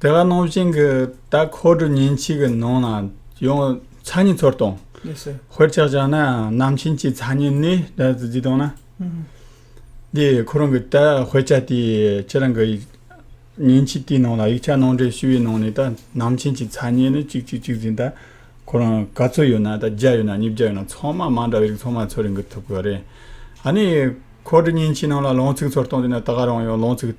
དེ་ག་ནང་བཞིན་གྱི་ད་ཁོ་དྲུག་ཉིན་གཅིག་གི་ནང་ལ་ཡང་ཚ་ཉིན་ཚོར་བཏང། ཧོལ་ཆགས་ཆགས་ན་ནམ་ཕྱིན་ཅི་ཚ་ཉིན་ནི་ད་ཟིག་བཏང་ན། འདི་ཁོ་རང་གི་ད་ཧོལ་ཆགས་དེ་ཁྱེད་རང་གི་ཉིན་གཅིག་དེའི་ནང་ལ་ཡིག་ཆ་ནང་འདྲེན་ཞུས་པའི་ནང་ནས་ད་ནམ་ཕྱིན་ཅི་ཚ་ཉིན་ནི་གཅིག་གཅིག་གཅིག་ཟིན་ད་ཁོ་རང་ག་ཚོད་ཡོད་ན་ད་བརྒྱ་ཡོད་ན་ཉིས་བརྒྱ་ཡོད་ན་ཚང་མ་མ་འདྲ་བའི་རིགས་ཚང་མ་ཚོར་འགུལ་ཐུབ་དགོས་རེད། ཨ་ནི་ཁོ་དྲུག་ཉིན་གཅིག་ནང་ལ་ལོངས་ཚིགས་ཚོར་བཏང་དུས་ན་ད་ག་རང་ཡང་ལོངས་ཚིགས།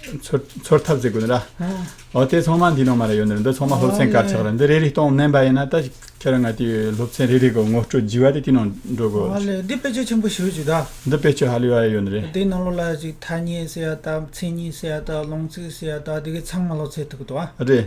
ཚོར་ཐབས་བཙལ་དགོས་ན་ར། དེ་ཚང་མ་འདི་ནང་མ་རེད་ཡོད་ནི་རེད་འདི་ཚང་མ་སློབ་ཚན་དཀར་ཆག་རེད་འདི་རེ་རེ་སྟོང་མནན་པ་ཡིན་ན་ད་ཁྱེད་རང་ང་དེ་སློབ་ཚན་རེ་རེ་གི་ངོ་སྤྲོད་བགྱི་བ་དེ་དེ་ནང་འགྲོ་དགོས། མ་ལེ་འདི་དཔེ་ཆ་ཆེན་པོ་ཞིག་རེད་ད། འདི་དཔེ་ཆ་ཧ་ལས་པ་ཡོད་ནི་རེད། དེ་ནང་ལོགས་ལ་ཐ་སྙད་ཟེར་ཡ་དང་མཚན་ཉིད་ཟེར་ཡ་དང་ལུང་ཚིག་ཟེར་ཡ་དང་དེ་གི་ཚང་མ་སློབ་ཚན་ཐུག་གི་འདུག་ཨ། རེད།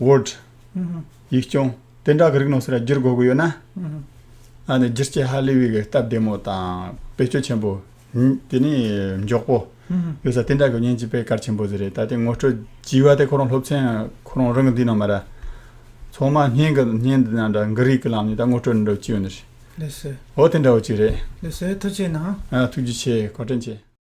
word། ཡིག་སྐྱོང། དེ་འདྲ་གི་རིགས་ནང་སེ་ར་བསྒྱུར་དགོས་ཀྱི་ཡོད་ན། ཨ་ནི་བསྒྱུར་བྱེད་ཧ་ལས་པའི་གི་སྟབས་བདེ་མོ་དང་བེད་སྤྱོད་ཆེན་པོ། དེ་ནི་མགྱོགས་པོ། ཡོད་ས་དེ་འདྲ་གི་བརྙན་གྱི་པའི་གར་ཆེན་པོ་ཟེར་རེད་ད་དེ་ངོ་སྤྲོད་བགྱི་བ་དེ་ཁོ་རང་སློབ་ཚན་ཁོ་རང་རང་གི་འདི་ནང་མ་ར། ཚང་མ་བརྙན་གི་བརྙན་འདི་ནང་འདྲ་གི་རིགས་གི་ལམ་ནས་ད་ངོ་སྤྲོད་འདྲ་བགྱི་ཡོད་ནི་རེད། ལེ་སེ། འོ་དེ་འདྲ་བགྱི་རེད། ལེ་སེ་ཐུགས་ཆེ་གནང། ཐུགས་རྗེ་ཆེ་གོ་དྲན་ཆེ།